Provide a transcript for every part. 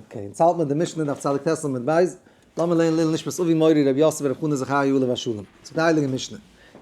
אקעי, אונז האלט מיט די משנה דף צדיק ט עמוד ב', לאמיר לערנען לעיל נשמת אבי מורי רבי יוסף רבי חנא זכריה עליו השלום, ס'איז די הייליגע משנה,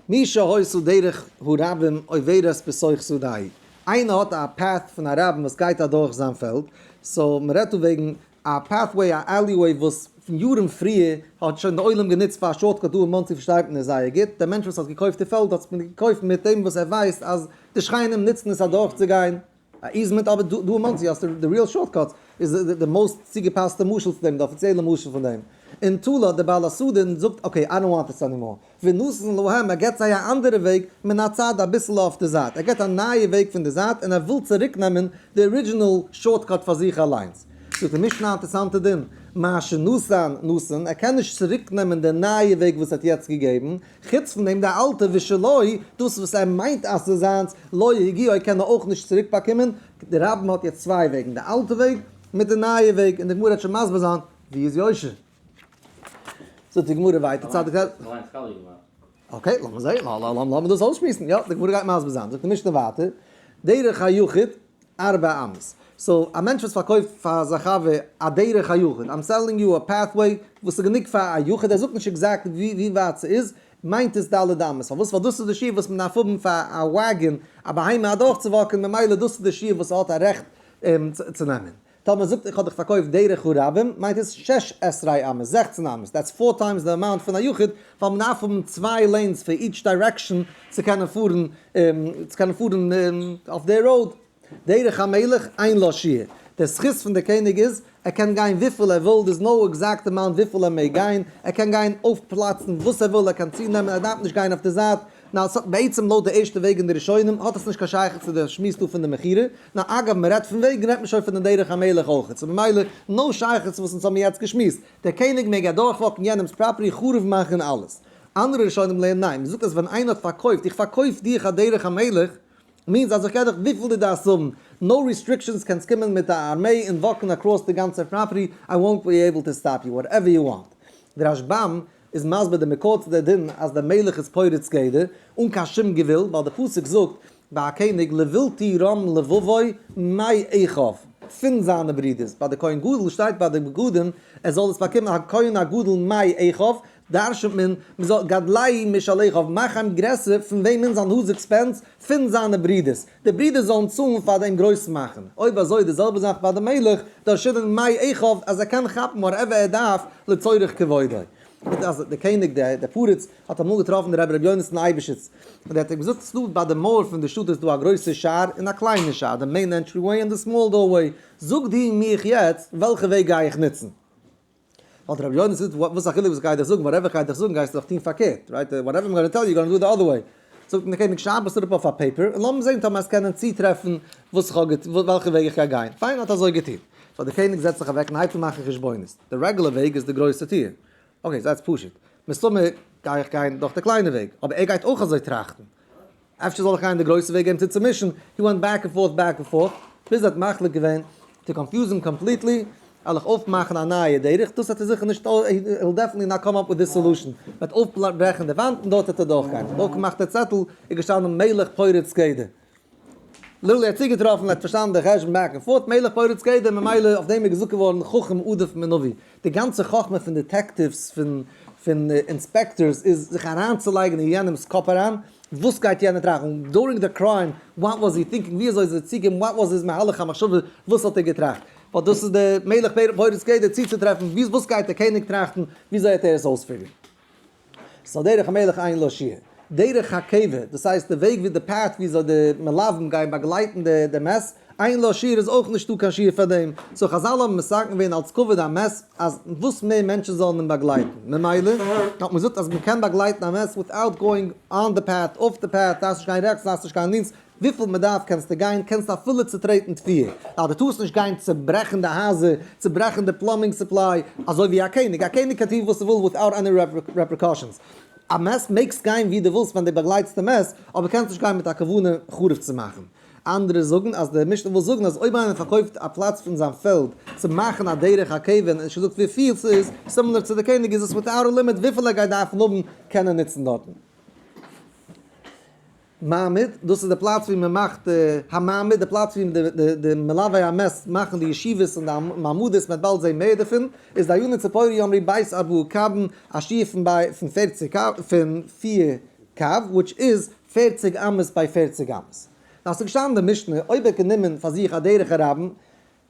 מי שהויסו דרך הרבים עוברת בסוך שדהי, איינער האט א path פון א רבים וואס גייט אדורך זיין פעלד, סאו מ'רעדט דא וועגן א pathway א alleyway וואס פון יארן פריער האט שוין די עולם גענוצט פאר א shortcut דא אין מאנסי פארשטייט מען עס זייער גוט, דער מענטש וואס האט געקויפט די פעלד האט עס געקויפט מיט דעם וואס ער ווייסט אז די שכנים נוצן עס אדורכצוגיין, א איזמענט אבער דא אין מאנסי האסטו די ריעל שארט קאטס איז די מאוסט צוגעפאסטע משל צו דעם די אפיציעלע משל פון דעם אין תולה האט די בעל הסדין זאגט אקעי איי דאנט וואנט דיס ענימאר ונתן להם ער געבט זיי א אנדערע וועג מן הצד אביסל אויף די זייט ער געבט א נייע וועג פון די זייט און ער וויל צוריק נעמען די ארידזשינעל שארט קאט פאר זיך אליינס זאגט די משנה א אינטערסאנטע דין מה שנתן נתן ער קען נישט צוריק נעמען די נייע וועג וואס ער האט יעצט געגעבן חוץ פון דעם די אלטע ושלו, דאס וואס ער מיינט אז ס'איז זיינס, לא הגיעו קען ער אויך נישט צוריק באקומען, די רב מ האט יעצט צוויי וועגן, די אלטע וועג מיט די נייע וועג, און די גמרא וועט שוין מסביר זיין ווי איז יושר. זאגט די גמרא ווייטער צד ק. אקעי לאמיר זעהן, לאמיר דאס אויסשמועסן, יא די גמרא גייט מסביר זיין, זאגט די משנה ווייטער, דרך היחיד ארבע אמות. סאו א מענטש וואס פארקויפט פאר זיין חבר א דרך היחיד, איים סעללינג יו א פעטוועי וואס איז גענוג פאר א יחיד, ער זאגט נישט עקזעקט ווי ווי ווייט ס'איז, מיינט עס ד' אמות, פארוואס? ווייל דאס איז די שיעור וואס מען דארף האבן פאר א וואגען, א בהמה אדורך צו וואקען, ממילא דאס איז די שיעור וואס ער האט א רעכט צו נעמען. טאמער ער זאגט איך האב דיך פארקויפט דרך הרבים, מיינט עס שש עשרה אמות, זעכצן אמות, דעטס פאר טיימס די אמאונט פון א יחיד, ווייל מען דארף האבן צוויי לעינס פאר איטש דיירעקשאן צו קענען פארן צו קענען פארן אויף די ראוד, דרך המלך אין לא שיעור, די זכות פון די קעניג איז ער קען גיין וויפיל ער וויל, דער איז נאו עקזעקט אמאונט וויפיל ער מעג גיין, ער קען גיין אויף פלאצן וואס ער וויל, ער קען צו נעמען ער דארף נישט גיין אויף די זייט, נאר ס'האט בעצם לויט די ערשטע וועג אין די ראשונים האט עס נישט קיין שייכות צו די שמועס דא פון די מכירה, נאר אגב מען רעדט פון וועג רעדט מען שוין פון די דרך המלך אויכעט, סאו ממילא נאו שייכות צו וואס אונז האבן יעצט געשמועסט, דער קעניג מעג אדורך וואקן יענעמס פראפערטי חרוב מאכן אלעס. אנדערע ראשונים לערנען ניין, מ'זאגט אז ווען איינער האט פארקויפט איך פארקויף דיר א דרך המלך, מיענס אז איך געב דיך וויפיל דו דארפסט האבן, נאו ריסטריקשאנס קענסט קומען מיט א ארמעי און וואקן אקראס די גאנצע פראפערטי איי וואנט בי עיבל טו סטאפ יו וואטעווער יו וואנט. די רשב ם איז מסביר די מקור צו די דין אז די מלך איז פורץ גדר אן קיין שום גבול ווייל די פסוק זאגט ביי א קעניג לבלתי רום לבבו מאי עכב פון זיינע ברידערס, ביי די כהן גדול שטייט ביי די בגדים ער זאל עס באקומען הכהן הגדול מאי עכב, דרש'נט מען, מען זאל גדלי' משלח האבן, מאך אים גרעסער פון וועמען זיין הויז עקספענס פון זיינע ברידערס, די ברידערס זאלן צאלן פאר דעם גרויסן מאכן, אויב אזוי די זעלבע זאך ביי די מלך, דרש'נען מאי עכב אז ער קען כאפן וואטעווער ער דארף לצורך כבודו. מיט אז דער קעניג דער פרץ האט אמאל געטראפן די רבי רבי יונתן אייבעשיץ, און ער האט אים געזאגט ס'דא ביי די מויער פון די שטאט איז דא א גרויסע שער און א קליינע שער, די מעין ענטרי וועי און די סמאל דאר וועי, זאג דו מיך יעצט וועלכע וועג גיי איך נוצן. האט רבי יונה זאגט וואס א חילוק וואס כ'גיי דיר זאגן וואטעווער כ'גיי דיר זאגן גייסטו דאך טון פארקערט רייט וואטעווער איים גאנא טעל יו גאנא דא איט די אדער וועי זאגט אים דער קעניג שרייב עס אראפ אויף א פעיפער און לאמיר זען טאמער עס קענען צוטרעפן וואס איך האב וועלכע וועג איך גיי גיין פיין האט אזוי געטון סאו דער קעניג זעצט זיך אוועק און הייבט אן מאכן חשבונות די רעגולער וועג איז די גרויסע טיר אקעי זייטס פשוט מסתמא גיי איך גיין דורך די קליינע וועג אבער ער גייט אויך אזוי טראכטן. אפשר זאל איך גיין די גרויסע וועג אים צו צומישן, הי ווענט בעק ענד פארט בעק ענד פארט, ביז ער האט מחליט געווען טו קאנפיוז אים קאמפליטלי, ער זאל זיך אויפמאכן א נייע דרך, דאס וועט ער זיכער נישט, הי וויל דעפענטלי נאט קאם אפ וויט די סעלושען, מען וועט אויפברעכן די וואנט און דארט וועט ער דורך גיין, דורך געמאכט די צעטל איז געשטאנען מלך פורץ גדר, לולי האט צוגעטראפן, ער האט פארשטאנען די חשבון בעק ענד פארט, מלך פורץ גדר, ממילא אויף דעם איז געזאגט געווארן חכם עדיף מנביא, די גאנצע חכמה פון דעטעקטיווס פון פון אינספעקטארס איז זיך אריינצולייגן אין יענעמס קאפ אריין, וואס גייט יענער טראכן דורינג די קריים, וואט וואס הי טינקינג, ווי אזוי איז ער צוגעקומען, וואט וואס איז מהלך המחשבה, וואס האט ער געטראכט, ווייל דאס איז די מלך פורס גדר צוצוטרעפן וואס גייט דער קעניג טראכטן, ווי אזוי העט ער עס אויספיגערן. ס'איז א דרך המלך אין לא שיעור. דרך הקבע, דאס הייסט די וועג ווי די פאט ווי אזוי די מלווים גייען באגלייטן די די מעש, אין לא שיעור איז אויך נישטא קיין שיעור פאר דעם, סאו חזל האבן מסכם געווען אלץ כבוד המעש אז וואס מער מענטשן זאלן אים באגלייטן, ממילא האט מען געזאגט אז מ'קען באגלייטן א מעש וויטאוט גאוינג אן די פאט, אויף די פאט, דארפסט נישט גיין רעכטס דארפסט נישט גיין לינקס, וויפיל מען דארף קענסטו גיין, קענסטו אפילו צוטרעטן טפיר, ווייל דו טארסט נישט גיין צוברעכן די הייזער, צוברעכן די פלאמבינג סופליי, אזוי ווי א קעניג, א קעניג קען טון וואס ער וויל וויטאוט עני רעפריקאשענס, א מעס מעגסט גיין ווי דו ווילסט ווען דו באגלייטסט די מעס, אבער קענסט נישט גיין מיט א כוונה חרוב צו מאכן. אנדערע זאגן אז די משנה וויל זאגן אז אויב איינער פארקויפט א פלאץ פון זיין פעלד צו מאכן א דרך הכבוד און נישט געזאגט וויפיל ס'איז, סימילער צו די קעניג איז עס וויטאוט א לימיט וויפיל ער גייט דארפן האבן קענען נוצן דארטן. מעמד, דאס איז די פלאץ ווי מען מאכט המעמד, די פלאץ ווי די מלווי המעש ט מאכן די ישיבות און די מעמדות, מען וועט באלד זען מער דערפון, איז דאיינע ציפורי יאמרי בית אבו קאבן א שיעור פון ביי פון פערציג קו פון פיר קו וויטש איז פערציג אמות ביי פערציג אמות, דאס איז געשטאנען די משנה אויב ער האט גענומען פאר זיך א דרך הרבים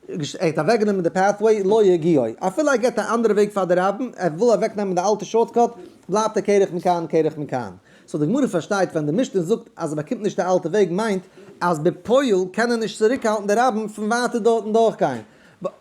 ער האט אוועק גענומען די פעטוועי לא יגיעו, אפילו ער געט א אנדערע וועג פאר די רבים, ער וויל אוועק נעמען די אלטע שארטקאט, בלייבט ער קרח מכאן קרח מכאן. סאו די גמרא פארשטייט ווען די משנה זאגט אז ער באקומט נישט די אלטע וועג מיינט אז בפועל קען ער נישט צוריק האלטן די רבים פון ווייטער דארטן דורך גיין,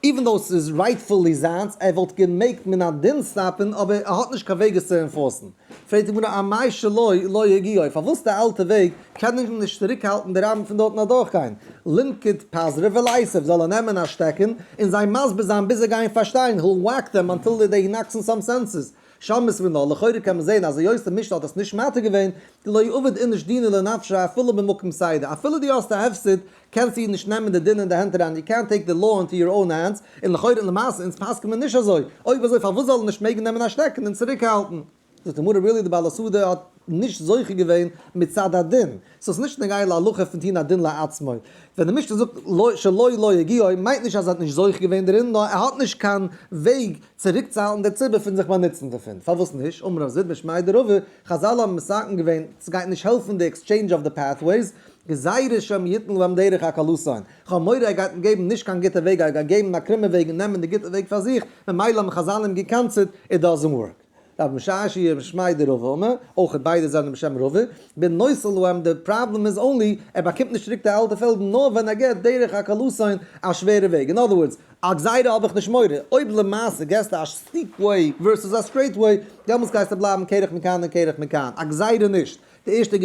איווען דאו ס'איז רייטפולי זיינס, ער וואלט געמעגט מן הדין סטאפן אבער ער האט נישט קיין וועג עס צו אינפארסן. פרעגט די גמרא אמאי שלא לא יגיעו, פארוואס די אלטע וועג קען איך נישט צוריק האלטן די רבים פון דארטן אדורך גיין, לנקוט פזרה ולעשב זאל ער נעמען א שטעקן און זיי מסביר זיין ביז זיי גייען פארשטיין, היל וואק דעם אנטיל דעי דעי נאקס און סאם סענסעס, שמות ונא, לכאורה קען מען זעהן אז היות משנה האט עס נישט מתיר געווען, לא עבד איניש דינא לנפשא אפילו במקום סיידא, אפילו דו האסט א הפסד קענסט איר נישט נעמען די דין אין די הענט אריין, יו קענט טעיק די לאו אינטו יור אוין הענדס, און לכאורה און למעשה אונז פסק'ן מיר נישט אזוי, אויב אזוי פארוואס זאל ער נישט מעגן נעמען א שטעקן און צוריק האלטן? זאגט די גמרא really די בעל הסעודה האט נישט זוכה געווען מצד הדין, סאו ס'נישט נוגע להלכה פון טוהן א דין לעצמו, ווען די משנה זאגט לא שלא לא הגיעו מיינט נישט אז ער האט נישט זוכה געווען דערין נאר ער האט נישט קיין וועג צוריק צו האלטן די ציבור פון זיך באנוצן דערפון, פארוואס נישט? אמר רב זיד משמעי דרבה, חזל האבן מסכם געווען ס'גייט נישט העלפן די עקסטשעינדזש אוו די פעטוועיס, גזירה שם יתן להם דרך הקלותיין, כ'האב מורא ער גייט אים געבן נישט קיין גוטע וועג ער גייט געבן א קרומע וועג און נעמען די גוטע וועג פאר זיך, ממילא האבן חזל אים געקאנסעט, איט דאזענט ווארק. רב משאש י רבי שמעי' די רב אמר, אויך ביידע זענען בשם רבי, בין נושא להם די פראבלעם איז אנלי ער באקומט נישט צוריק די אלטע פעלדן נאר ווען ער געט דרך הקלותיין א שווערע וועג, אין אדער ווארדס, א גזירה האב איך נישט מורא, אויב למעשה געסטו א סטיפ וועי ווערסוס א סטרעיט וועי, דעמאלס גייסטו בלייבן קרח מכאן און קרח מכאן, א גזירה נישט. די ערשטע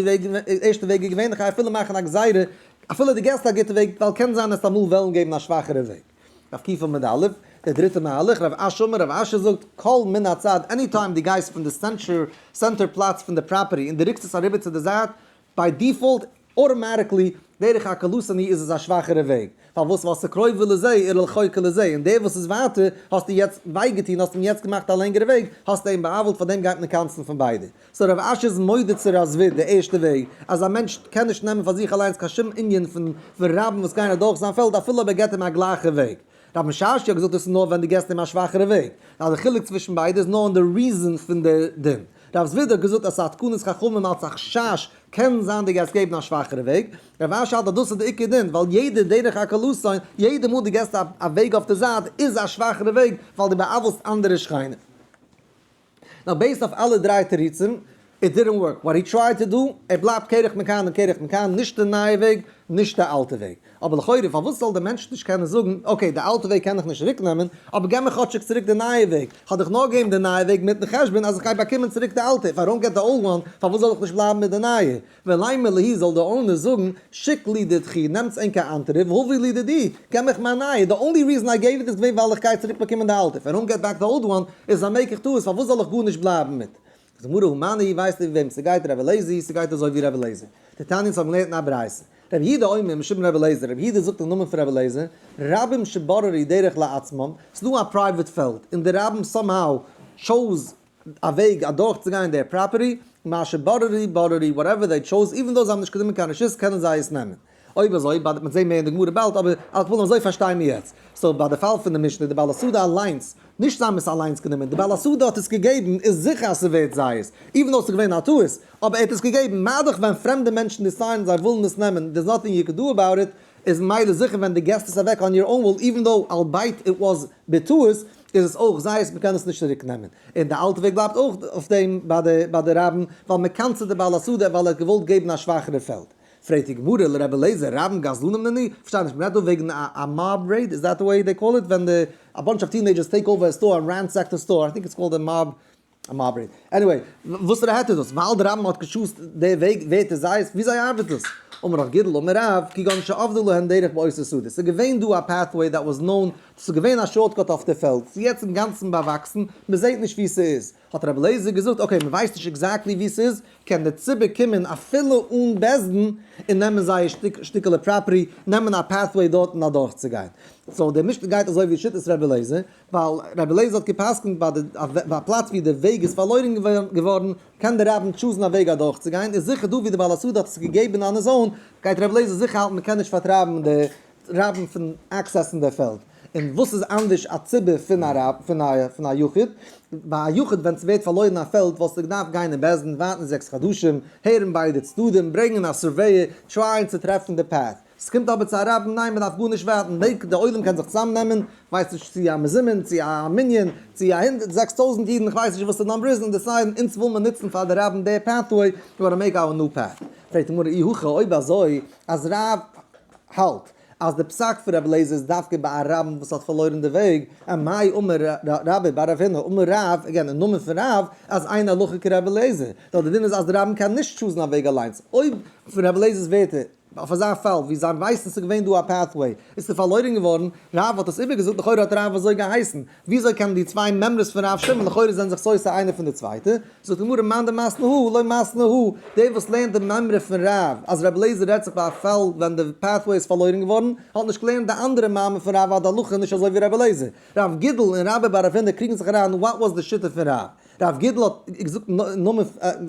וועג איז געווענליך אפילו מאכן א גזירה, אפילו די געסט א גוטע וועג, ווייל קען זיין אז אמאל וועלן געבן א שוואכערע וועג. רב קיפל מיט די אלף, דער דריטע מהלך, רב אש אמר, רב אשר זאגט, קול מן הצד, עני טיים די גייסט פון די סענטער פלאץ פון די פראפערטי און די ריקסט עס אריבער צו די זייט, ביי דיפאלט, אוטאמאטיקלי, דרך הקלות עני' איז עס א שוואכערע וועג, פארוואס ווייל ס'קרויבער לזה ער ללחוקה לזה, און דער וואס איז ווייטער, האסטו יעצט וויי געטון, האסט אים יעצט געמאכט א לענגערע וועג, האסטו אים בא'עוול'ט פארדעם גייט מען קאנסן פון ביידע. סאו רב אשר איז מודה צו רז ו די ערשטע וועג אז א מענטש קען נישט נעמען פאר זיך אליינס קיין שום ענין פון רבים וואס גייען אדורך זיין פעלד אפילו אויב ער געט אים א גלייכע וועג. רב משאש י האט געזאגט דאס איז נאר ווען דו געסט אים א שוואכערע וועג, ווייל די חילוק צווישן ביידע איז נאר אין די ריזען פון די דין. רב ז ו האט געזאגט אז ס'איז א תקנת חכמים אלץ א חשש קען זיין דו גייסט געבן א שוואכערע וועג. רב אשר האלט אז דאס איז די עיקר דין ווייל יעדע דרך הקלסון, יעדע מאל דו געסט א וועג אויף די זייט איז א שוואכערע וועג ווייל דו בא'עוול'סט אנדערע שכנים. נאר בעיסד אויף אלע דריי תירוצים, איט דידענט ווארק וואט הי טרייד טו דא, ער בלייבט קרח מכאן און קרח מכאן, נישט די נייע וועג, נישט די אלטע וועג. אבער לכאורה פארוואס זאל דער מענטש נישט קענען זאגן, אקעי די אלטע וועג קען איך נישט צוריק נעמען, אבער געב מיר כאטשיג צוריק די נייע וועג, כ'האב דאך נאר געבן די נייע וועג מיטן חשבון אז איך גיי באקומען צוריק די אלטע, איף איי דאנט געט די אולד וואן, פארוואס זאל איך נישט בלייבן מיט די נייע? וועלאי מלהי זאל די אונער זאגן שיק לי די תחי' נעמטס ענק א אנטעריף הווי לי די די געב מיך מיין נייע די אנלי ריזען איי געיוו איט איז געווען ווייל איך גיי צוריק באקומען די אלטע פארום געט בעק די אולד וואן איז א מעיק איך טעות פארוואס זאל איך גארנישט בלייבן מיט די גמרא המן אי ווייסט איר ווי וועם סגייט רבי לעזי סגייט אזוי ווי רבי לעזי די תנית האבן געלערנט אין א ברייסע רבי יהודה אומר משום רבי לעזר רבי יהודה זאגט אין נאמען פון רבי לעזר רבים שבוררי דרך לעצמם סדא א פרייוועט פעלד אין די רבים סאם האו טשאוז א וועג אדורך צו גיין דער פראפערטי, מה שברארי ברארי, וואטעווער זיי טשאוז, איווען דאו זיי האבן נישט גענומען קיין רשות קענען זיי עס נעמען. אויב אזוי באדערט מען זיי מער אין די גמרא באלד אבער אז כ'וויל נאר אזוי פארשטיין מיר יעצט. סאו ביי די פאל פון די משנה די בעל השדה אליינס, נישט זיי האבן עס אליינס גענומען, די בעל השדה האט עס געגעבן איז זיכער אז ס'ווערט זייערס, איווען דאו ס'איז געווען א טעות, אבער ער האט עס געגעבן, מאידך ווען פרעמדע מענטשן דיסיידן זיי ווילן עס נעמען דער'ס נאטינג יו קען דא עבאוט איט, איז ממילא זיכער ווען דו געסט עס אוועק אן יור און וויל איווען דאו אלבאיט איט וואס בטעות, איז עס אויך זייערס מען קען עס נישט צוריק נעמען, און די אלטע וועג בלייבט אויך אויף דעם ביי די ביי די רבין ווייל מען קאנצעט די בעל השדה ווייל ער האט געוואלט געבן א שוואכערע פעלד. פרעגט די גמרא לר' אליעזר רבן גזלנים נני, כ'פארשטיי נישט, מען רעדט דא וועגן א א מאב רעיד, איז דעט וואט דעי קאל איט ווען די א באנטש אוו טינעידזשערס טעיק אווער א סטאר און רענסעק די סטאר, איי טינק איטס קאלד א מאב מעברי. עניוועי, וואסערע העט איז דאס? ווייל די רמב ם האט געשאסט די וועג ווערט עס זייערס? וויאזוי ארבעט דאס? אמר ר' גידל אמר רב, כגון שעבדו להן דרך בעושר שדות, ס'איז געווען דא א פעטוועי דעט וואס נאון, דאס איז געווען א שארטקאט אויף די פעלד, ס'איז יעצט אינגאנצן באוואקסן, מ'זעהט נישט ווי ס'איז, האט רבי אליעזר געזאגט, אקעי מ'ווייסט נישט עקזעקטלי ווי ס'איז, קען דער ציבור קומען אפילו אן בעז ד און נעמען זייער שטיק שטיקעלע פראפערטי, נעמען א פעטוועי דארטן אדורכצוגיין. סאו דער משנה גייט אזוי ווי שיטת רבי אליעזר, ווייל רבי לעזער האט גע'פסק'נט ביי די ביי א פלאץ ווי די וועג איז פארלוירן געווארן, קען דער רבי טשוזן א וועג אדורכצוגיין, איז זיכער דא ווי די בעל השדה האט עס געגעבן אן עס אן, גייט רבי לעזער זיכער האלטן מען קען נישט פארטרייבן די רבים פון עקסעסן די פעלד, און וואס איז אנדערש א ציבור פון א רב פון א פון א יחיד, ביי א יחיד ווען ס'ווערט פארלוירן א פעלד וואלסטו געדארפט גיין אין בית דין ווארטן זעקס חדשים, הערן ביידע צדדים, ברענגען א סורוועיער, טרייען צו טרעפן די פאט, ס'קומט אבער צו א רבין, ניין מ'דארף גארנישט ווארטן, מעג די עולם קען זיך צוזאמנעמען, כ'ווייס נישט צו א מזומן, צו א מנין, צו א הונדערט זעקס טויזנט אידן, כ'ווייס נישט וואס די נאמבער איז, און דעסיידן אונז וויל מען נוצן פאר די רבין דער פעטוועי, אבער מעג אווער נאו פעט. פרעגט די גמרא אי הכא אויב אזוי אז רב האלט אז די פסק פון רבי לעזער איז דווקא ביי א רבין וואס האט פארלוירן די וועג, און מאי אמר רבי ביי רב הונא אמר רב, אגעין אין נאמען פון רב, אז אין הלכה כרבי לעזער, נאר די דין איז אז די רבין קען נישט טשוזן א וועג אליינס, אויב פון רבי לעזער'ס ווערטער, ווייל פאר זיין פאל, ווי זיין ווייסן ס'איז געווען דא א פעטוועי, איז ס'פארלוירן געווארן, רב האט עס איבערגעזאגט, לכאורה האט רב אזוי געהייסן, וויאזוי קענען די צוויי מימרות פון רב שמעון לכאורה זענען זיך סותר איינע פון די צווייטע, זאגט די גמרא מאן דמסנא הוא ולא מסנא הוא, דער וואס לערנט די מימרא פון רב אז רבי אליעזר רעדט זיך ביי א פאל ווען די פעטוועי איז פארלוירן געווארן, האט נישט געלערנט די אנדערע מאמר פון רב אז די הלכה איז נישט אזוי ווי רבי אליעזר. רב גידל און רבי בר אבינר קריגן זיך אריין וואט וואס די שיטה פון רב. רב גידל האט געזאגט נאמען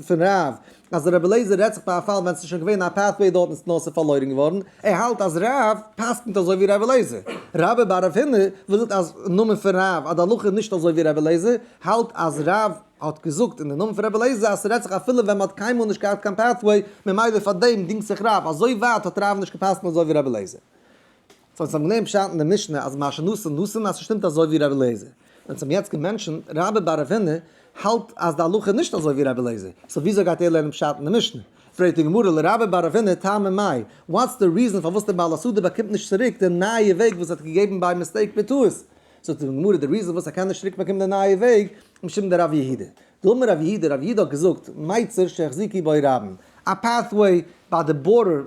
פון רב אז רב אליעזר רעדט זיך פון א פאל ווען ס'איז שוין געווען א פעטוועי דארט און ס'איז נאר ס'פארלוירן געווארן, ער האלט אז רב פסק'נט אזוי ווי רב אליעזר. רבי בר רב הונא וואס זאגט אז נאמען פון רב אז די הלכה איז נישט אזוי ווי רב אליעזר, האלט אז רב האט געזאגט אין די נאמען פון רב אליעזר אז ס'רעדט זיך אפילו ווען מ'האט קיינמאל נישט געהאט קיין פעטוועי ממילא פארדעם דינגט זיך רב, אזוי ווייט האט רב נישט געפסק'נט אזוי ווי רב אליעזר. ווען ס'האט געווען פשט אין די משנה אז מה שנשא נשא אז ס'שטימט אזוי ווי רבי אליעזר, ווען ס'האבן יעצט געמענטשן רבי בר אבינר האלט אז די הלכה איז נישט אזוי ווי רבי אליעזר, סאו וויאזוי גייט ער לערנען פשט אין די משנה? פרעגט די גמרא לרבי בר אבינר טעמא מאי, וואטס די ריזען פארוואס די בעל הסדר באקומט נישט צוריק די נייע וועג וואס ער האט געגעבן ביי מיסטעיק בטעות? זאגט די גמרא די ריזען פארוואס ער קען נישט צוריק באקומען די נייע וועג, משום דער רב יהודה דאמר רב יהודה, רב יהודה האט געזאגט, מייצר שהחזיקי בו רבן, א פעטוועי ביי די בארדער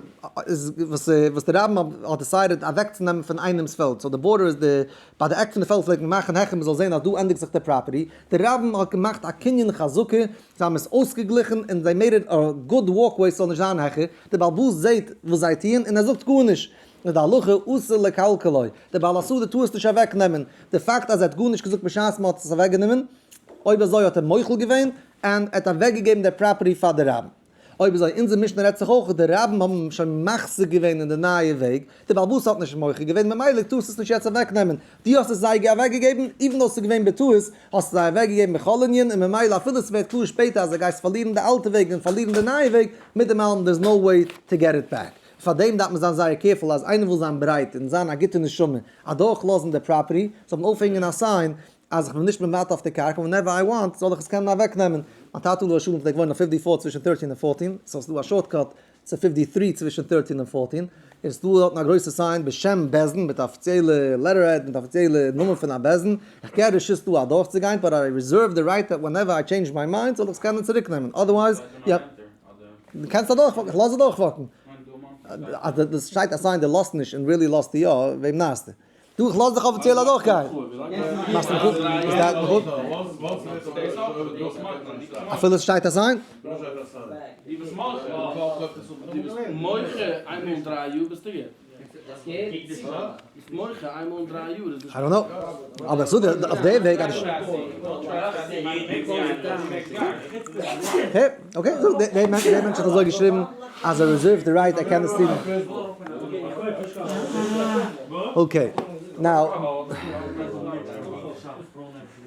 איז וואס וואס די רבן האט דיסיידעד אוועקצונעמען פון איינעמס פעלד, סאו די בארדער איז די, ביי די עק פון די פעלד פלעגט מען מאכן העכער מ'זאל זען אז דא ענדיגט זיך די פראפערטי, די רבן האט געמאכט א קנין חזקה, זיי האבן עס אויסגעגליכן און זיי מעיד איט א גוד וואלקוועי ס'זאל נישט זיין העכער, די בעל באס זעהט וואס זיי טוען און ער זאגט גארנישט, איז די הלכה אסור לקלקלו, דער בעל הסעודה טאר עס נישט אוועק נעמען, די פאקט אז ער האט גארנישט געזאגט בשעת מען האט עס אוועק גענומען, אויב אזוי האט ער מוחל געווען, און ער האט אוועק געגעבן די פראפערטי פאר די רב, אויב אזוי אונזער משנה רעדט זיך אויך די רבים האבן אים שוין מחזיק געווען אין די נייע וועג, די בעל בית האט נישט מוחל געווען ממילא טארסט עס נישט יעצט אוועק נעמען, דו האסט עס זיי אוועק געגעבן, איווען דאו עס איז געווען בטעות, האסט עס זיי אוועק געגעבן בכל ענין, און ממילא אפילו עס ווערט קלאר שפעטער אז די גייסט פארלירן די אלטע וועג און פארלירן די נייע וועג, מיט דעם אלעם דער איז נאו וועי טו געט איט בעק. פאר דעם דארף מען זיין זייער קערפול אז איינער וויל זיין ברייט און זיין א גוטע נשמה אדורך לאזן די פראפערטי, זאל מען אויפהענגען א סיין אז איך בין נישט מוותר אויף די קרקע און ווענעווער איי וואנט זאל איך עס קענען אוועק נעמען. מיין טאטע עליו השלום פלעגט וואוינען אויף פיפטי פאורט צווישן טערטין און פארטין, סאו ס'איז דא א שארט קאט צו פיפטי טרי צווישן טערטין און פארטין, און ס'איז דא דארטן א גרויסע סיין בשם בעסען מיט אפיציעלע לעטערהעד מיט אפיציעלע נאמען פון א בעסען, איך געב רשות דא אדורכצוגיין באט איי רעזערוו די רייט דעט ווענעווער איי טשעינדזש מיי מיינד זאל איך עס קענען צוריקנעמען אדערווייז יעפ. די קענסט אדורך וואקן, כ'לאז אדורך וואקן. אז די דאס שטייט א סיין די לאזט נישט און ריעלי לאזטו יא, וועם נייעסטו? דו כ'לאז דיך אפיציעל אדורך גיין. מאכסט מיך אויף? עס גייט מיך אויף? אפילו ס'שטייט א סיין? איי דאנט קנאו, אבער כ'זאג דיר אויף די וועג אז אקעי זאג די מענטש האט אזוי געשריבן אז ער רעזערווד די רייט ער קען עס טון, אקעי נאו.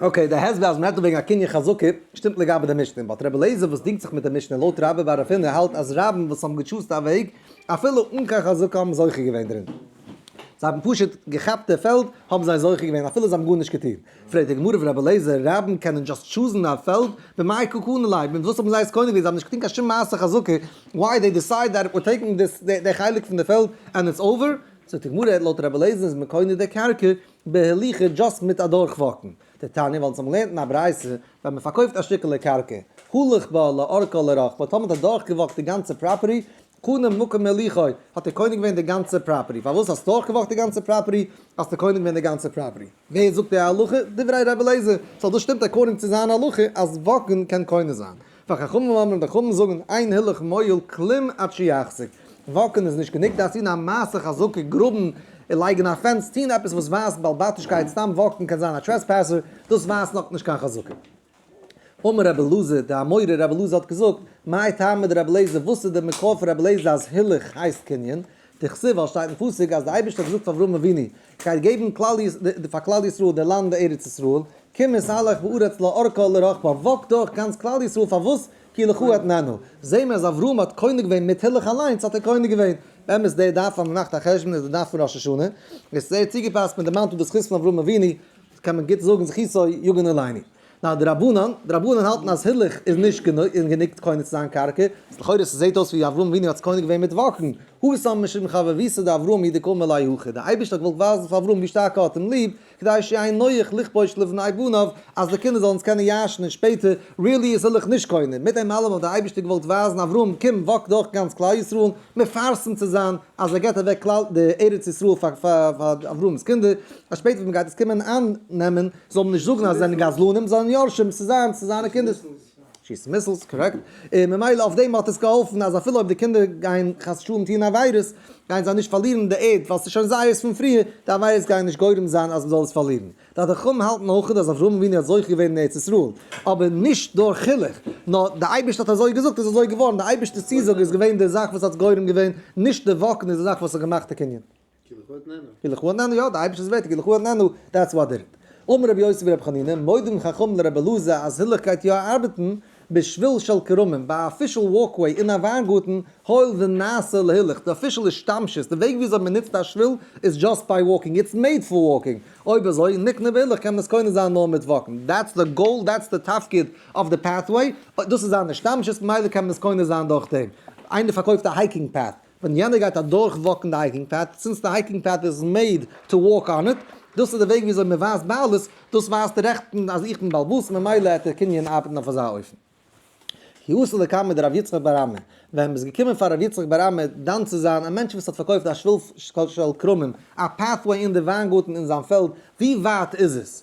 אקעי, די הסבר אז מען רעדט דא וועגן א קנין חזקה, שטימט לגבי די משנה, באט ר' אליעזר וואס דינגט זיך מיט די משנה לויט רבא בר אפינא האלט אז רבים וואס האבן געטשוזט א וועג אפילו אן קיין חזקה האבן זוכה געווען דערין, זיי האבן פשוט געכאפט די פעלד האבן זיי זוכה געווען אפילו זיי האבן גארנישט געטון, פרעגט די גמרא פון ר' אליעזר, רבים קענען דשאסט טשוזן א פעלד במאי קוקנא ליה, מיט וואס האבן זיי עס קונה געווען, זיי האבן נישט געטון קיין שום מעשה חזקה, וויי דעי דיסייד דעט וויר טעיקינג דיס די חלק פון די פעלד ענד איטס אווער, זאגט די גמרא לויט ר' אליעזר איז מען קונה די קרקע בהליכה דשאסט מיט אדורך וואקן די תניא ווייל צום לערנטן א ברייתא ווען מען פארקויפט א שטיקעלע קרקע הלוך בה לאורכה לרוחבה טאמער האט אדורך געוואקט די גאנצע פראפערטי קנה מקום מהליכה האט ער קונה געווען די גאנצע פראפערטי פארוואס האסט דורך געוואקט די גאנצע פראפערטי האסטו קונה געווען די גאנצע פראפערטי ווער זאגט די הלכה דברי רבי אליעזר סאו דאס שטימט אקארדינג צו זיין הלכה אז וואקן קען קונה זיין. פאר חכמים אמרים די חכמים זאגן אין הילוך מויל כלים עד שיחזיק, וואקן איז נישט גענוג, דארפסט טון א מעשה חזקה, גראבן, לייגן א פענס, טון עפעס וואס ווייזט בעל בתישקייט, סתם וואקן קען זיין א טרעספעסער, דאס ווייזט נאך נישט קיין חזקה. אמר רבי אלעזר, די אמורא רבי אלעזר האט געזאגט, מאי טעמא דרבי אלעזר, וואס איז די מקור פון רבי אלעזר אז הילוך הייסט קנין, דכתיב ווייל שטייט אין פסוק אז די אייבערשטער האט געזאגט פאר אברהם אבינו, כ'גיי געבן כלל י פאר כלל ישראל די לאנד ארץ ישראל, קום און סהלך בארץ לא ארכה לא רחבה, וואקט דורך גאנץ כלל ישראל פארוואס כי לך אתננו, זעה מיר אז אברהם האט קונה געווען מיט הילוך אליינס האט ער קונה געווען, באמת די דף אז מ'מאכט א חשבון איז די דף פון ראש השנה, עס איז זייער צוגעפאסט מיט די מאנטל די זכות פון אברהם אבינו, קען מען גוט זאגן זכותו יגן עלינו. נאר די רבנן, די רבנן האלטן אז הילוך איז נישט גענוג און גענוג קונה צו זיין קרקע. לכאורה ס'זעהט אויס ווי אברהם אבינו האט עס קונה געווען מיט וואכן. הוי סאמע משום חב וביסוד דאברהם היא דקאמר ליה הוכי. די אייבערשטער האט געוואלט ווייזן פאר אברהם ווי שטארק ער האט אים ליב, כדי שיהא נוח לכבוש לבניו בניו, אז די קינדער זאלן עס קענען ירש'ן און שפעטער, ריעלי איז הילוך נישט קונה. מיט דעם אלעם האט די אייבערשטער געוואלט ווייזן אברהם קום וואק דורך גאנץ כלל ישראל, מפרסם צו זיין אז ער געבט אוועק כלל די ארץ ישראל פאר אברהם'ס קינדער, אז שפעטער ווען מען גייט עס קומען אייננעמען, זאל מען נישט זאגן אז זיי זענען גזלנים, זיי זענען יורשים, ס'איז זיינס, ס'איז זיינע קינדער'ס. שיסן מיסלס, קארעקט. און ממילא אויף דעם האט עס געהאלפן אז אפילו אויב די קינדער גייען חס ושלום טוהן עבירות, גייען זיי נישט פארלירן די ערד, ווייל ס'איז שוין זייערס פון פריער, די עבירות גייען נישט גורם זיין אז מ'זאל עס פארלירן. די חכמים האלטן אויך אז אברהם אבינו האט זוכה געווען אין ארץ ישראל, אבער נישט דורך חילוך, נאר די אייבערשטער האט אזוי געזאגט איז אזוי געווארן, די אייבערשטער'ס צוזאג איז געווען די זאך וואס האט גורם געווען, נישט די וואוקן איז די זאך וואס האט געמאכט די קנין. כי לכו אתננו. כי לכו אתננו, יא, די אייבערשטער איז ווערט, כי לכו אתננו, דעטס וואט איט. אמר רבי יוסי ורבי חנינא, מודים חכמים לרבי אלעזר אז הילוך גייט יא ארבעטן, בשביל של כרמים, ביי א פישל וואלקוועי אין א וויינגארטן, הואיל ונעשה להילוך, די פישל השתמשות, די וועג וויאזוי מ'נוצט א שביל, איז דזשאסט ביי וואלקינג, איטס מעיד פאר וואלקינג, אויב אזוי, נקנה והילוך קען מען עס קונה זיין נאר מיט וואקן, דעטס די גאול, דעטס די תפקיד אוו די פעטוועי, דאס איז זיין השתמשות ממילא קען מען עס קונה זיין דורכדעם. איינער פארקויפט א הייקינג פעט. ווען יענער גייט אדורך וואקן די הייקינג פעט, סינס די הייקינג פעט איז מעיד טו וואק אן איט, דאס איז די וועג וויאזוי מען ווייזט בעלות, דאס ווייזט רעכטן אז איך בין בעל באס ממילא העט דער קנין ארבעטן אויף אזא אופן. כי עשה לקמא דרב יצחק בר עמי, ווען מען איז געקומען פאר רב יצחק בר עמי דן צו זיין א מענטש וואס האט פארקויפט א שביל של כרמים, א פעטוועי אין די וויינגארטן אין זיין פעלד, ווי ווייט איז עס?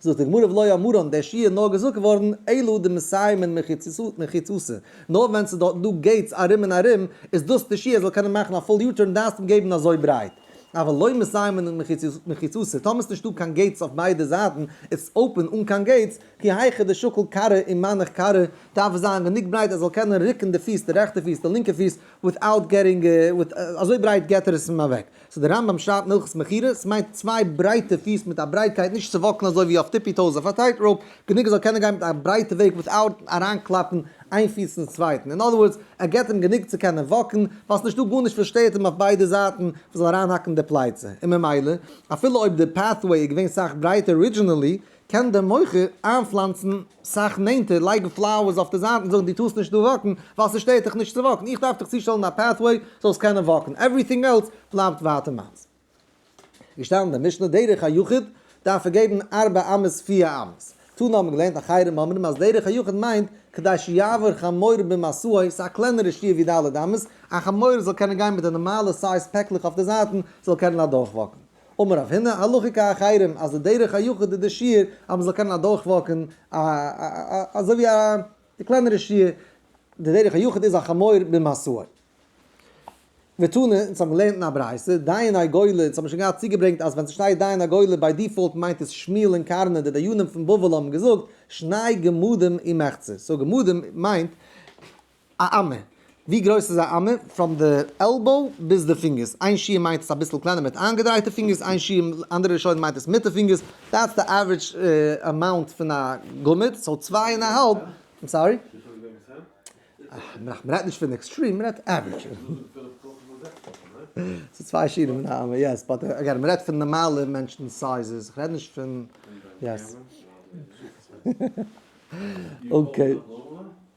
זאגט די גמרא ולא יאמרו און דער שיעור איז נאר געזאגט געווארן אלא דמסיימין מחיצתו נאר ווען ס'איז דארטן דא געיטס ארום און ארום איז דאס די שיעור ער זאל קענען מאכן א פול יו טורן דארפסט אים געבן אזוי ברייט אבל לא מסיימין מחיצתו טאמער ס'איז נישטא קיין געיטס אויף ביידע זייטן איז עס אפען אן קיין געיטס כי היכא דשוקל קרע און מנח קרע דארף עס זיין גענוג ברייט ער זאל קענען רוקן די פיס די רעכטע פיס די לינקע פיס וויטאוט געטינג אזוי ברייט געט ער עס אים אוועק סאו דער רמב ם שרייבט מלכות מכירה, סמיינט צוויי ברייטע פיס מיט א ברייטקייט נישט צו וואקלן אזוי ווי אויף טיפי טאוס אויף א טייט ראופ, גענוג ער זאל קענען גיין מיט א ברייטע וועג וויטאוט אריינקלאפן איין פיס אינס צווייטן, אין אדער ווארדס ער געט אים גענוג צו קענען וואקן ווייל סאיז נישטא גארנישט וואס שטערט אים אויף ביידע זייטן וואס זאל אריינהאקן די פלייצע, און ממילא אפילו אויב די פעטוועי איז געווען סאך ברייטער ארידזשינעלי קען דער מוכר איינפלאנצן סאך נענטער, לייגן פלאוערס אויף די זייטן, זאגן דו טארסט נישט דא וואקן ווייל ס'שטערט דיך נישט צו וואקן, איך דארף דיך צושטעלן א פעטוועי זאלסט קענען וואקן, עווריטינג עלס בלייבט ווייטער מיינס. געשטאנען אין די משנה דרך היחיד דארף ער געבן ארבע אמות פיר אמות, תנא האבן געלערנט אחרים אומרים אז דרך היחיד מיינט כדי שיעבור חמור במסעו, ס'איז א קלענערע שיעור ווי ד' אמות, א חמור זאל קענען גיין מיט די נארמאלע סייז פעקלעך אויף די זייטן, זאל קענען אדורך וואקן. אמר רב הנה הלכה כאחרים אז די דרך היחוד איז די שיעור אז מ'זאל קענען אדורכוואקן א אזוי ווי א די קלענערע שיעור די דרך היחוד איז א חמור במאסור ותנא אונז האבן געלערנט אין א ברייתא דיין הגולה אונז האבן שוין געהאט צוגעברענגט אז ווען ס'שטייט דיין הגולה ביי דיפאלט מיינט עס שמואל און קארנא די דיינים פון בבל האבן געזאגט שני גמדים ומחצית סאו גמדים מיינט א אמה, ווי גרויס איז א אמה? פראם די עלבאו ביז די פינגערס, איין שיעור מיינט עס אביסל קלענער מיט איינגעדרייטע פינגערס, איין שיעור אנדערע ראשונים מיינט עס מיט די פינגערס, דעטס די עווערידזש אמאונט פון א גמד, סאו צוויי און א האלב, איים סארי. מ'רעדט נישט פון עקסטרים, מ'רעדט עווערידזש. צוויי שיעורים אין א אמה, יעס, באט אגעין מ'רעדט פון נארמאלע מענטשן סייזעס, איך רעד נישט פון, יעס. אקעי.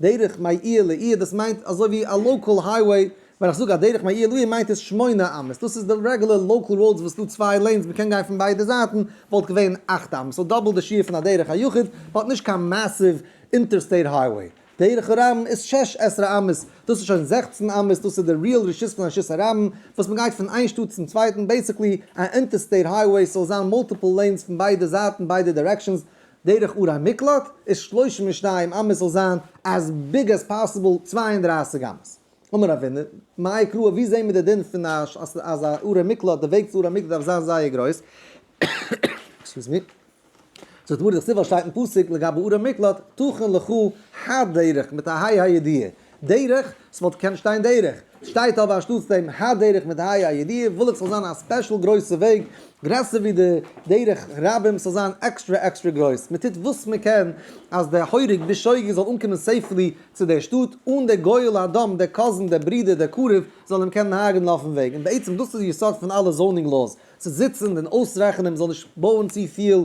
דרך מאיר לעיר דאס מיינט אזוי ווי א לאקעל הייוועי, ווען איך זאג א דרך מאיר לעיר מיינט עס שמונה אמות, דאס איז די רעגולער לאקעל ראודס וואס איז דא צוויי לעינס מען קען גיין פון ביידע זייטן, וואלט געווען אַכט אמות, סאו דאבל די שיעור פון א דרך היחיד, מען האט נישט קיין מעסיוו אינטערסטעיט הייוועי. דרך הרבים איז שש עשרה אמות, דאס איז שוין זעכצן אמות, דאס איז די ריעל רשות פון רשות הרבים, וואס מען גייט פון איין שטאט צום צווייטן, בעיסיקלי א אינטערסטעיט הייוועי, ס'זאל זיין מולטיפל לעינס פון ביידע זייטן ביידע דירעקשאנס, דרך אור המקלט איז שלושים ושניים אמות זאל זיין as big as possible צוויי און דרײַסיק אמות. אמר אבינו, מאי קרא ווי זעהן מיר די דין פון אז א אור המקלט די וועג צו אור המקלט דארף זיין זייער גרויס. עקסקיוז מי. זאגט מרדכי סיבא שטייט אין פסוק לגבי אור המקלט תכון לך הדרך מיט א היי הידיעה דרך, ס'וואלט געקענט שטיין דרך, ס'שטייט אבער אנשטאטס דעם ה' דרך מיט ה' הידיעה, וויל איך ס'זאל זיין א ספעשל גרויסע וועג, גרעסער ווי די דרך רבים, ס'זאל זיין עקסטרע עקסטרע גרויס, מ'טוט וואס מ'קען אז דער הורג בשוגג זאל אנקומען סעיפלי צו דער שטאט, אן דער גואל האדם, דער קאזין, דער ברודער, דער קרוב, זאל אים קענען הרג'נען אויפן וועג, און בעצם דאס איז יסוד פון אלע זאונינג לאוס, צו זיצן און אויסרעכענען מ'זאל נישט בויען צופיל,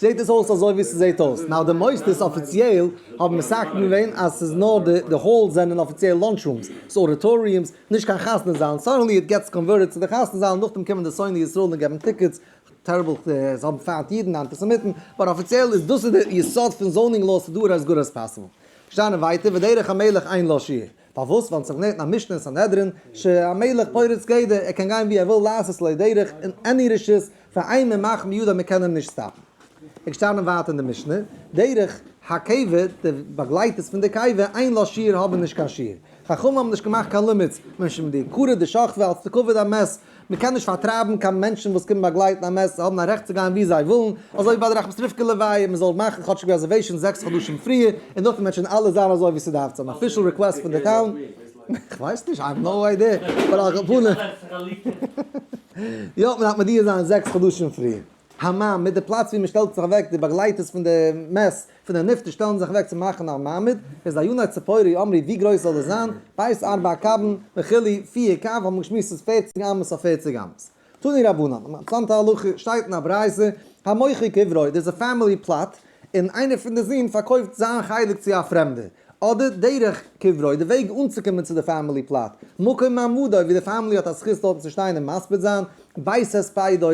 זעהט עס אויס אזוי ווי ס'זעהט אויס. נאו די מוסדות אפיציעל האבן מסכים געווען אז ס'איז נאר די די האלס זענען אפיציעל לאנטש רומס, ס'איז אודיטאריומס, נישט קיין חתונה זאלן, סאדענלי איט געטס קאנווערטעד צו די חתונה זאלן, נאכדעם קומען די שונאי ישראל און געבן טיקעטס, טעריבל, זיי האבן פיינט אידן, אנטיסעמיטן, באט אפיציעל איז דאס איז די יסוד פון זאונינג לאו, ס'איז דא ארעסט גאר עס פאסיבל. שטייען ווייטער ודרך המלך אין לשיר. פארוואס? ווייל אונז האבן געלערנט אין א משנה אין סנהדרין ש א מלך פורץ גדר, ער קען גיין ווי ער וויל לעשות לא דרך, און עני רשות פאר איין מען מאכט מיד אז מען קען אים נישט סטאפן. ער איז געשטאנען ווייט אין די משנה, דרך הקיבה, די באגלייטערס פון די קיבה, אין לא שיעור האבן נישט קיין שיעור. חכמים האבן נישט געמאכט קיין לימיטס, מענטשן ווי די קרא דשכבה אלס די כבוד המת מען קען נישט פארטרייבן קיין מענטשן וואס קומען באגלייטן א מעסס, זיי האבן א רעכט צו גיין וואו זיי ווילן, אזוי ווי ביי די רחמסטריווקע לוויה, מען זאל מאכן כאטשיג רעזערוועישאנס זעקס חדשים פריער, און דארט וועט שוין אלעס זיין אזוי ווי ס'דארף צו זיין, אפישעל ריקוועסט פון די טאון, כ'ווייס נישט, איי האוו נאו איידיע, אבער על כל פנים, יא, מען דארף מודיע זיין זעקס חדשים פריער. המעמד, די פלאץ ווי מען שטעלט זיך אוועק, די באגלייטערס פון די מעש פון די נפטר שטעלן זיך אוועק צו מאכן א מעמד, איז א יונה ציפורי אמרי ווי גרויס זאל דאס זיין, בית ארבע קבין וכו' פיר קב האט מען געשמועסט ס'איז פערציג אמות אויף פערציג אמות. תני רבנן, אן אינטערעסאנטע הלכה, שטייט אין א ברייתא, המוכר קברו, דאס איז א פעמילי פלאט, און איינער פון די זון פארקויפט זיין חלק צו א פרעמדער, אדער דרך קברו, די וועג אנצוקומען צו די פאמילי פלאט, מקום מעמדו, ווי די פאמילי האט א זכות דארטן צו שטיין און מספיד זיין, בית הספידו,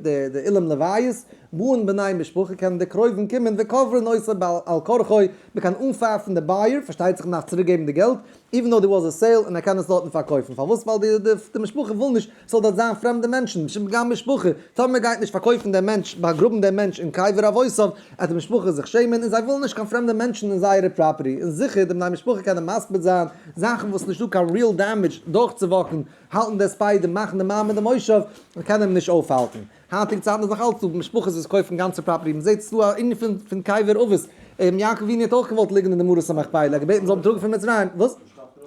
די אולם לוויות, באן בני משפחה, קענען די קרובים קומען, וקוברין עושה בעל על כרחו, מען קען אנפייפן די בייער, פארשטייט זיך מען דארף צוריק געבן די געלט, איווען דאו דער וואס איז סעיל, און ער קען עס דארטן פארקויפן, פארוואס ווייל די משפחה וויל נישט ס'זאל דארט זיין פרעמדע מענטשן, נישט פגע משפחה, טאמער מען גייט נישט פארקויפן דעם מענטש, באגראבן דעם מענטש אין קבר אבותיו, עט די משפחה זיך שעמען, און זיי ווילן נישט קיין פרעמדע מענטשן אין זייערע פראפערטי, און זיכער די בני משפחה קענען מספיד זיין, זאכן וואס נישט דא קיין ריעל דעמעדזש דורכצואוואקן, האלטן די ספיידער, מאכן די מים אין די מושב, און קענען אים נישט אויפהאלטן. היינטיגע צייטן איז נאכאלץ דא משפחות וואס קויפן גאנצע פראפערטי, מען זעט עס דא א אינגל פון פון קייווער אבות, רבי יעקב ווינער האט אויך געוואלט ליגן אין די מערת המכפילה, ער האט געבעטן מען זאל אים טראגן פון מצרים, וואס?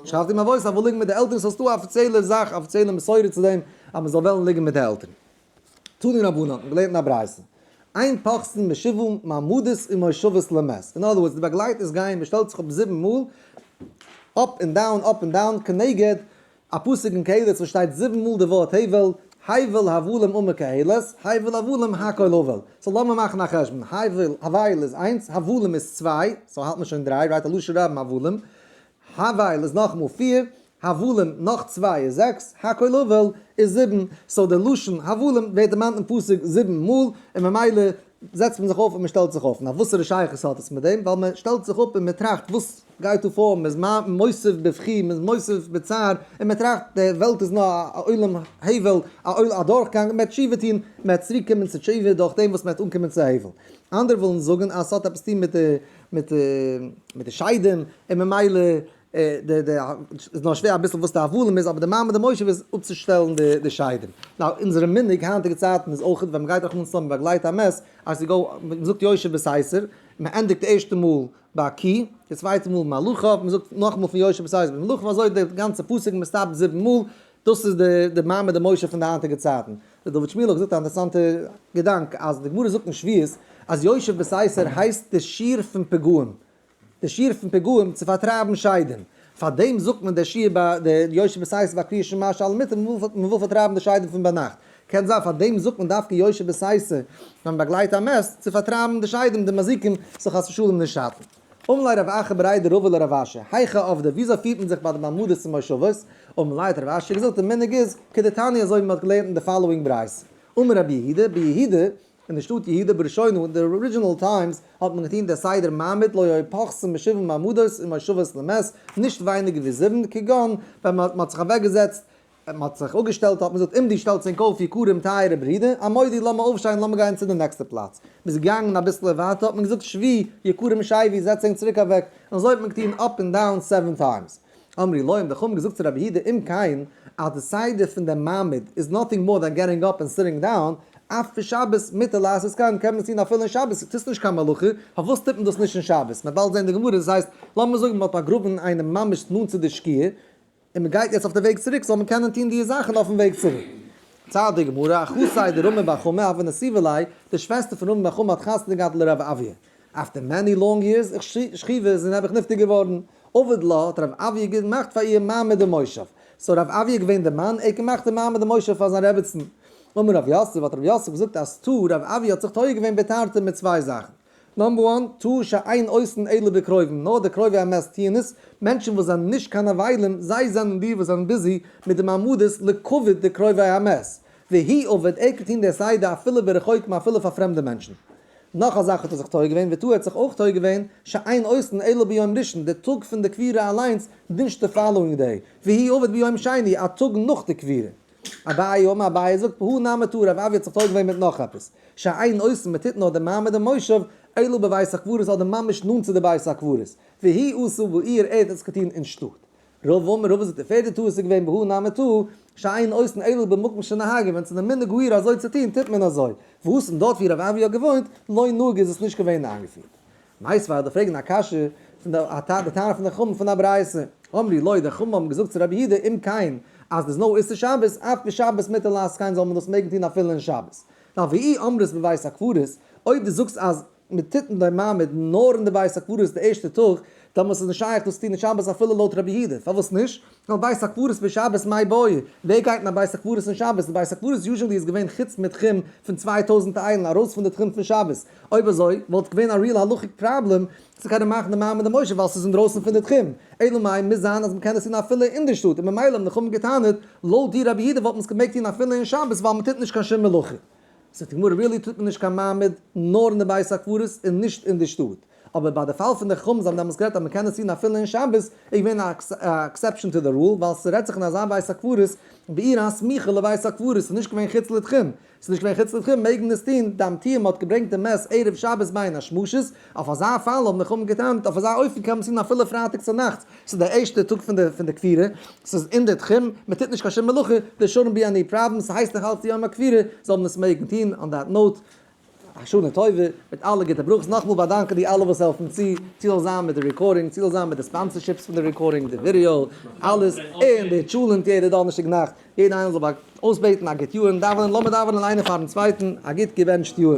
שרייבט אים אבות ער וויל ליגן מיט די עלטערן, סאו ס'איז דא א אפיציעלע זאך, אפיציעלע מסורה צו דעם אז מען זאל וועלן ליגן מיט די עלטערן. תניא רבנן האט מען געלערנט אין א ברייתא, אין פחסן משבעה מעמדות ומושבות למת, אין אנדער ווארדס די באגלייטערס גייען, מען שטעלט זיך אפ זיבן מאל, אפ און דאון, אפ און דאון, כנגד א פסוק אין קהלת וואס שטייט זיבן מאל די ווארט הבל, הבל הבלים אמר קהלת, הבל הבלים הכל הבל. סאו לאמיר מאכן א חשבון, הבל, הבל איז איינס, הבלים איז צוויי, סאו האלט מען שוין דריי, רייט א לשון רבים הבלים, הבל איז נאכמאל פיר, הבלים נאך צוויי איז זעקס, הכל הבל איז זיבן, סאו די לשון הבלים ווערט דערמאנט אין פסוק זיבן מאל, און ממילא זעצט מען זיך אויף און מען שטעלט זיך אויף, נאר וואסערע שייכות האט עס מיט דעם, ווייל מען שטעלט זיך אפ און מען טראכט וואס גייט דא פאר, מען איז מוסיף בבכי, מען איז מוסיף בצער, און מען טראכט די וועלט איז נאר א עולם הבל, א דורכגאנג, און מען וועט תשובה טון, מען וועט צוריק קומען צו תשובה דורך דעם וואס מען וועט אנקומען צו הבל. אנדערע ווילן זאגן אז עס האט עפעס צו טון מיט די שיידעם, און ממילא איז נאר שווער אביסל וואס די הבלים איז אבער די מעמד המושב איז אפצושטעלן די שיידים. נאו אונזערע מנהג היינטיגע צייטן איז אויך ווען מ'גייט רחמנא לצלן מ'באגלייט א מעס אז ס'גא מ'זאגט יושב בסייסער מ'ענדיגט די ערשטע מאל ביי קי די צווייטע מאל מלאכה מ'זאגט נאכמאל פון יושב בסייסער ביז מלאכה אזוי די גאנצע פסוק מ'סטאפט זיבן מאל דאס איז די מעמד המושב פון די היינטיגע צייטן. ר' דוד שמואל האט געזאגט א אינטערעסאנטע געדאנק אז די גמרא זאגט אין שביעות אז יושב בסייסער הייסט די שיעור פון פגעים די שיעור פון פיגועים צו פארטרייבן שיידן, פאר דעם זאגט מען דער שיעור ביי די יושבי סייס ביי קריאת שמע שעל המיטה מען וויל פארטרייבן די שיידן פון ביינאכט, קען זיין פאר דעם זאגט מען דווקא יושבי סייסע ווען מען באגלייט א מעס צו פארטרייבן די שיידן די מזיקים זאל חס ושלום נישט שאטן. אום לי' רב אחר ברעידע רבא לרב אשר, היכא עובדא, וויאזוי פירט מען זיך ביי די מעמדות און מושבות? אום לי' האט רב אשר געזאגט די מנהג איז כדתניא אזוי ווי מען האט געלערנט אין די פאלאווינג ברייתא, אמר רבי יהודה, ביהודה אין די שטאט יהודה בראשינו אין די ארידזשינעל טיימס האט מען געטון די סדר מעמד לא יפחסן משבעים מעמדות און מושבות למס' נישט ווייניגער ווי זיבן, כגון ווען מען האט זיך אוועקגעזעצט, מען האט זיך אפגעשטעלט האט מען געזאגט עמדי שטעלט צונק אויף יקרים טייערע ברידער עמדי לאמיר אויפשטיין לאמיר גיין צו די נעקסטע פלאץ, מען איז געגאנגען אביסל ווייטער האט מען געזאגט שבי יקרים שייבי זעצט ענק צוריק אוועק און אזוי האט מען געטון אפ און דאון סעווען טיימס. אמרי להם, די חכמים האבן געזאגט צו רבי יהודה אום קיין אז די סדר פון דעם מעמד איז נאטינג מאר דען געטינג אפ און סיטינג דאון, אף פון שבת מותר לעשות כן, קען מען עס טון אפילו אין שבת, טוסט נישט קיין מלאכה, פארוואס טוט מען דאס נישט אין שבת? מען וועט באלד זען די גמרא, דאס הייסט, לאמיר זאגן מען האט באגראבן איינעם ממש נאנט צו די שקיעה, און מען גייט יעצט אויף די וועג צוריק, זאל מען קענען טון די זאכן אויפן וועג צוריק. צייט די גמרא, אחותי דרומי בר חמא, אבן נשיא ול', די שוועסטער פון רומי בר חמא האט חתונה געהאט לר' אביה. אפטער מעני לאנג יערס איך שכיב איז און האב איך נפטר געווארן אבד ל האט הרב אביה ג געמאכט פאר איר מעמד אין מושב סאו הרב אביה געווען די מאן ער האט געמאכט די מעמד אין מושב פאר זיין רעבעצן אמר רב יוסף האט רב יוסף געזאגט אז טו רב אביה האט זיך טועה געווען בתרתי מיט צוויי זאכן נאמבער וואן טו שאין עושין אלא בקרובים נאר די קרובי המת טוען עס מענטשן וואס זענען נישט קיין אבלים זיי זענען די וואס זענען ביזי מיט די מעמדות לכבוד די קרובי המת והי' אבד ער קען טון די סדר אפילו ברחוקים אפילו פאר פרעמדע מענטשן נאך א זאך האט ער זיך טועה געווען, ותו א האט זיך אויך טועה געווען, שעיין אויסן אלא ביום ראשון, די טאג פון די קבירה אליינס נישט די פאלאואינג דעי, והיא עובד ביום שני, א טאג נאך די קבירה. אביי אמר אביי זאגט פהא נעמי טא, רב אבי האט זיך טועה געווען מיט נאך עפעס, שעיין אויסן מען טוט נאר די מעמד אין מושב, אלא בבית הקברות אדער ממש נאנט צו די בית הקברות, והיא עשו בעיר ערד האט זיך געטון אין שטאט. רוב אמר רבא זאגט די פערדע טעות איז געווען בהא נעמי טא שאין עושין אלא במקום שנהגו ווען ס'איז די מנהג העיר אזוי צו טוהן טוט מען אזוי והוא און דארט ווי רבי אבי האט געוואוינט לא נהוג איז עס נישט געווען איינגעפירט. נייס פאר די פרעגן א קשיא פון די א טענה די טענה פון די חממ פון א ברייסע אמרי לוי די חממ האבן געזאגט צו רבי יהודה אם כן אז די סנאו איסור שבת אף בשבת מותר לעסקיין זאל מען דאס מעגן טוהן אפילו אין שבת אווי אי אמרת בבית הקברות אויב די זאגסט אז און מען טוט דעם מעמד נאר אין די בית הקברות די ערשטע טאג, דעמאלס איז נישט שייך דאס צו טון אין שבת אפילו לויט רבי יהודה, פארוואס נישט? ווייל בית הקברות בשבת מאי בואי, ווער גייט אין א בית הקברות אין שבת, די בית הקברות יוזשענלי איז געווען חוץ מיט תחום פון צוויי טויזנט איילן ארויס פון די תחום פון שבת, אויב אזוי וואלט געווען א ריעל הלכה'יג פראבלעם צו קענען מאכן די מעמד אין מושב ווייל ס'איז אינדרויסן פון די תחום, אלא מאי מוז זיין אז מען קען עס טון אפילו אין די שטאט, און ממילא האבן די חכמים געטענה'ט לויט דיר רבי יהודה וואלט מען עס געמעגט טון אפילו אין שבת ווייל מען טוט נישט קיין שום מלאכה. זאגט די גמרא really טוט מען נישט קיין מעמד נאר אין די בית הקברות און נישט אין די שטאט, אבער ביי די פאל פון די חומות זיי האבן דעמאלס גערעדט אז מען קען עס טון אפילו אין שבת איז געווען א עקסעפשען טו די רול ווייל ס'רעדט זיך אין אזא בית הקברות בעיר הסמוכה לבית הקברות ס'איז נישט געווען חוץ לתחום, ס'איז נישט געווען חוץ לתחום מעג מען עס טון, די אמתיים האט געברענגט די מעש ערב שבת ביין א שמשות, אויף אזא פאל האבן חכמים געטענה'ט, אויף אזא אופן קען מען עס טון אפילו פרייטאג צונאכטס, ס'איז דער ערשטער טאג פון די פון די כפירה, ס'איז אין די תחום, מען טוט נישט קיין שום מלאכה, דער שרון בי עני פראבלעם, ס'הייסט נאך אלץ יום הכפירה, זאל מען עס מעגן טון, אן דעט נאוט, א שנה טובה, מיט אלע גוטע ברכות, נאכמאל באדאנקען די אלע וואס העלפן צו, צו זאל זיין מיט די רעקארדינג, צו זאל זיין מיט די ספאנסערשיפס פון די רעקארדינג, די ווידיאו, אלעס, און די טשולענט יעדע דאנערשטאג נאכט, יעדע איינער זאל אויסבעטן א גוט יאר און דאווענען, לאמיר דאווענען איינער פארן צווייטן א גוט געבענטשט יאר.